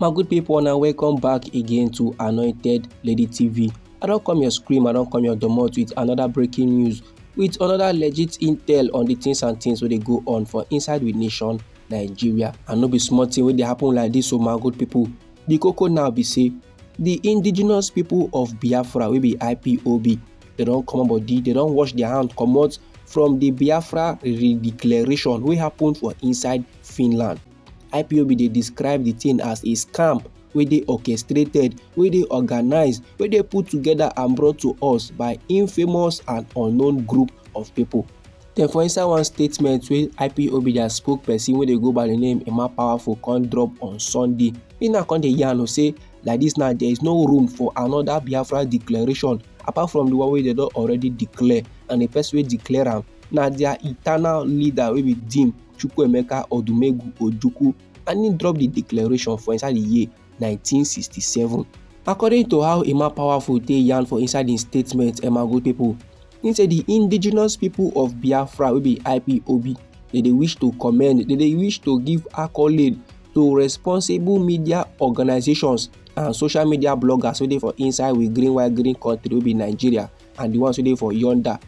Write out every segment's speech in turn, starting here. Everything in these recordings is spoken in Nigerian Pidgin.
my good people una welcome back again to anointed lady tv i don come your scream i don come your domot with another breaking news with another legit intel on the things and things wey dey go on for inside with nation nigeria and no be small thing wey dey happen like this o oh my good people the koko now be say di indigenous pipo of biafra wey be ipob dem don comot body dem don wash dia hand comot from di biafra redeclaration wey happen for inside finland ipob dey describe di tin as a scam wey dey orchestrated wey dey organised wey dey put togeda and brought to us by infamous and unknown group of pipo Den for inside one statement wey ipob dia spokesperson wey dey go by di name emma powerful come drop on sunday im now come dey yarn say like dis now there is no room for another biafra declaration apart from the one wey dem don already declare and the person wey declare am na their eternal leader wey be dean chukwuemeka odumegwu ojukwu and im drop the declaration for inside the year 1967. According to how Emma Powerful take yarn for inside im statement Emmagold pipo, im say di indigenous pipo of Biafra wey be IPOB dey dey wish to commend, dey dey wish to give accolade to responsible media organisations and social media bloggers wey dey for inside we green white green country wey be Nigeria and di ones wey dey for yonder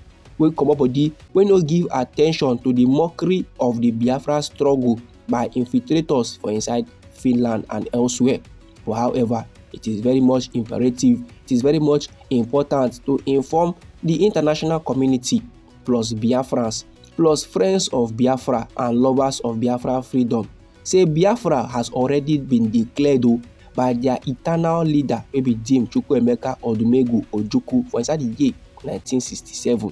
wey comot body wey no give attention to di mockery of di Biafra struggle. by infiltrators for inside Finland and elsewhere. But however, it is very much imperative, it is very much important to inform the international community plus Biafrans plus friends of Biafra and lovers of Biafra freedom say Biafra has already been declared o oh, by their eternal leader wey be Dame Chukwuemeka Odumegwu Ojukwu for inside the year 1967.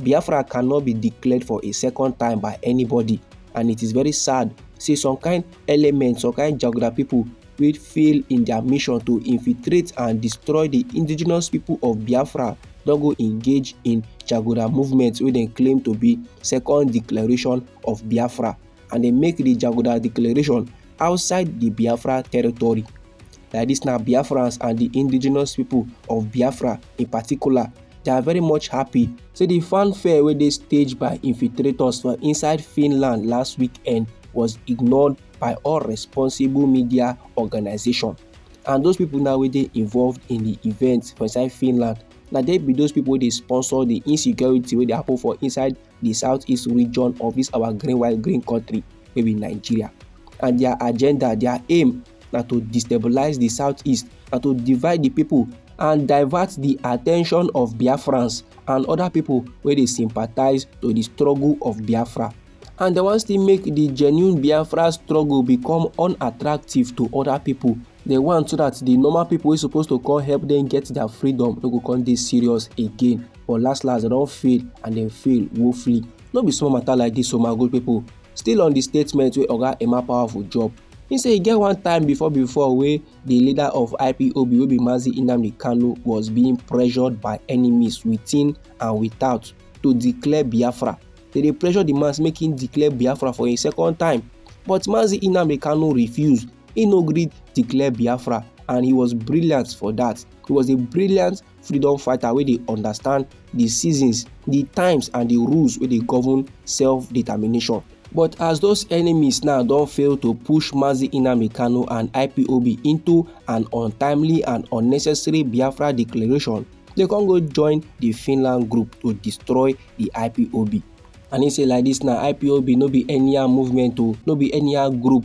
Biafra cannot be declared for a second time by anybody and it is very sad say some kind elements, some kind Jaguda people will fail in their mission to infiltrate and destroy the indigenous people of Biafra don go engage in Jaguda movement wey dem claim to be second declaration of Biafra and dem make the Jaguda declaration outside di Biafra territory. Like dis na Biafrans and di indigenous pipo of Biafra in particular They are very much happy say the fanfare wey dey staged by infiltrators for inside Finland last weekend was ignored by all responsible media organization. And those people now wey dey involved in the event for inside Finland, na they be those people wey dey sponsor the insecurity wey dey happen for inside di south east region of dis our green white green country wey be nigeria and dia agenda dia aim na to destabilize di south east na to divide di pipo and divert di attention of biafrans and oda pipo wey dey sympathize to di struggle of biafra and dem wan still make di genuine biafra struggle become unattractive to oda pipo dem want so that the normal people wey suppose to come help them get their freedom no go come dey serious again but last last dem don fail and dem fail woefully no be small matter like this o my good people still on the statement wey oga emma powerful drop he say e get one time before before wey the leader of ipob wey be mazi nnamdi kanu was being pressured by enemies within and without to declare biafra they dey pressure the man make him declare biafra for a second time but mazi nnamdi kanu refused He no gree declare Biafra and he was brilliant for that. He was a brilliant freedom fighter wey dey understand the seasons, the times and the rules wey dey govern self-determination. But as those enemies now don fail to push Mazi Nnamdi Kanu and IPOB into an untimely and unnecessary Biafra declaration, they con go join the Finland group to destroy the IPOB. And he say like this na IPOB no be anyhow movement o, no be anyhow group.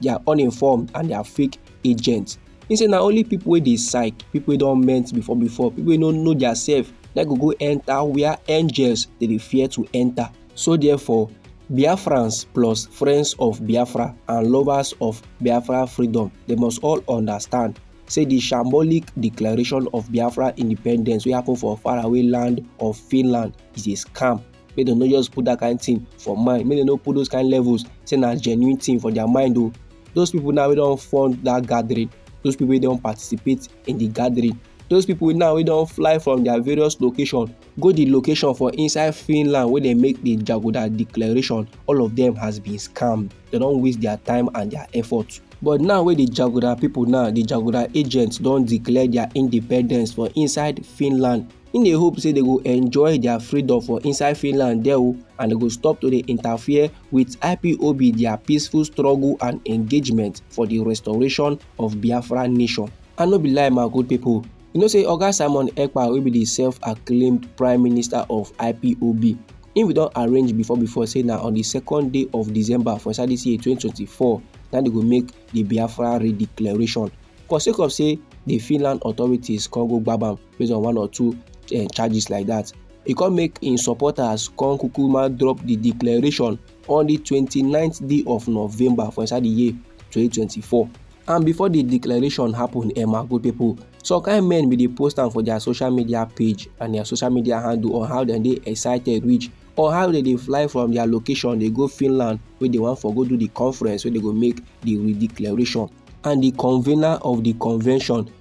they are uninformed and they are fake agents he say na only people wey dey psych people wey don meant before before people wey no know their self na go go enter where angels dey dey fear to enter so therefore biafrans plus friends of biafra and lovers of biafra freedom they must all understand say the shambolic declaration of biafra independence wey happen for faraway land of finland is a scam make dem no just put that kind thing for mind make dem no put those kind levels say na genuine thing for their mind o oh. those people now wey don fund that gathering those people wey don participate in the gathering those people now wey don fly from their various location go the location for inside finland wey dey make the jagoda declaration all of them has been scammed dem don waste their time and their effort but now wey the jagoda people now the jagoda agents don declare their independence for inside finland Im dey hope say dem go enjoy dia freedom for inside Finland there o and dem go stop to dey interfere wit IPOB dia peaceful struggle and engagement for di restoration of Biafra nation. And no be lie my good pipo, you know say Oga Simon Ekpa wey be di self-acclaimed Prime Minister of IPOB, im bin don arrange before before say na on di second day of December for inside dis year 2024 na dem go make di Biafra redeclaration. But sake of say di Finland authorities come go gbab am, based on one or two uh, charges like that. He come make im supporters come kukuma drop the declaration on the 29th day of November for inside the year 2024. And before the declaration happen, Emma, good people, some kind men be dey post am for their social media page and their social media handle on how dem dey excited reach or how dem dey fly from their location dey go finland wey dey wan for go do the conference wey dey go make the declaration and the convener of the convention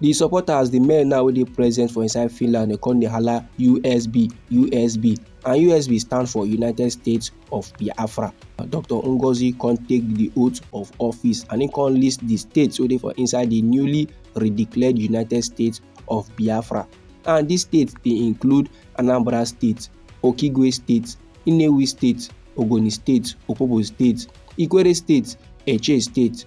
di supporters di men now wey dey present for inside finland dey come dey hala usb usb and usb stand for united states of biafra dr ngozi come take di oath of office and im come list di states wey dey for inside di newly redeclared united states of biafra and dis states dey include anambra state okigwe state inewi state ogoni state opobo state ikwere state eche state